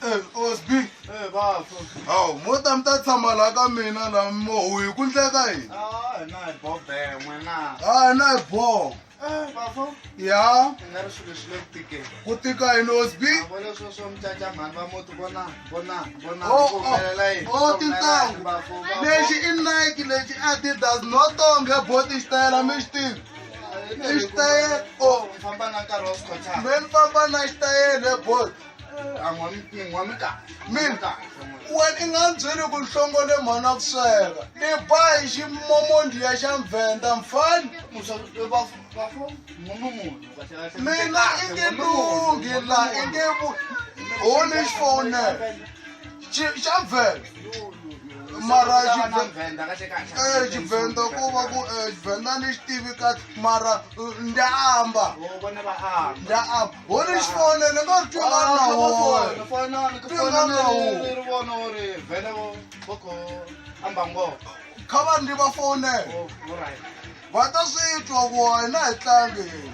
Eh, osb eh, awu mo ta mi ta tshama laha ka mina la mohu hi ku ndleka yini ah, a hi na hi boho Eh, bafo ya i nga ri swilo swi le ku tikeni ku tika hi nosby vona swo swo mucaca mhani va muti vona vona vona oh, oh. kumelela yini o oh, tintangu lexi i nike lexi adidas no tonge boti xitayela mi xi tivi i xitayele o oh. famba na nkarhi wa swikhotshana me ni famba na xitayele bol eh, an'wa mi kahle min wena i nga byeli ku nhlongo le mhana ku sweka ni ba hi ximomondiya xa mvhenda mfani mina i nge lungi la i nge holy phone Chi- xa vhele mara xivhele xivhenda ku va ku eh, xivhenda ni xi tivi kahle mara eh, ndya amba ndya amba ho ni xi fonele nga ri twinga na wowe kha va ndzi va fonele va ta swi twa ku wena hi tlangi yini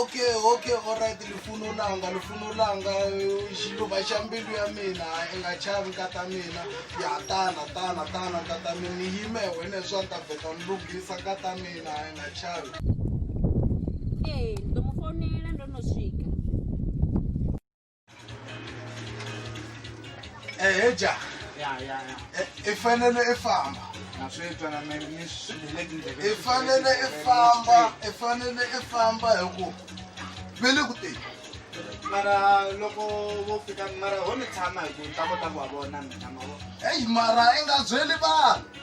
okay okay alright lifuna ulanga lifuna ulanga xiluva xa mbilu ya mina i nga chavi nkata mina ya tana tana tana nkata mina ni yime wena swa ni ta vheta ni lunghisa nkata mina i nga chavi ee ni to mu fonela ndo no swika eheja ya ya ya eh, i fanele i famba na swi twa na mina ni swi le tindleve i fanele i famba i fanele i famba hi ku ve le ku teni mara loko vo fika mara ho ni tshama hi ku ta kota ku va vona mina mavona heyi mara i nga byeli vanhu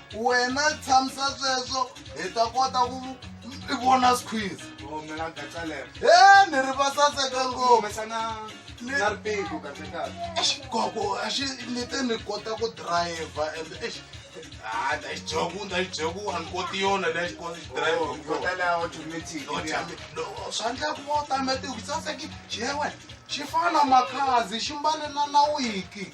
wena tshamisa sweswo hi ta kota ku i vona squiz oh, e ni ri va saseka ngopfukoko axi ni te ni kota ku driver and ex hayi ndayijoku ndayijoku a ni koti yona leyi xi koti xidriverswa ndla ku va u tametiku saseki xi ye wena xi fana na makhazi xi mbalelana wiki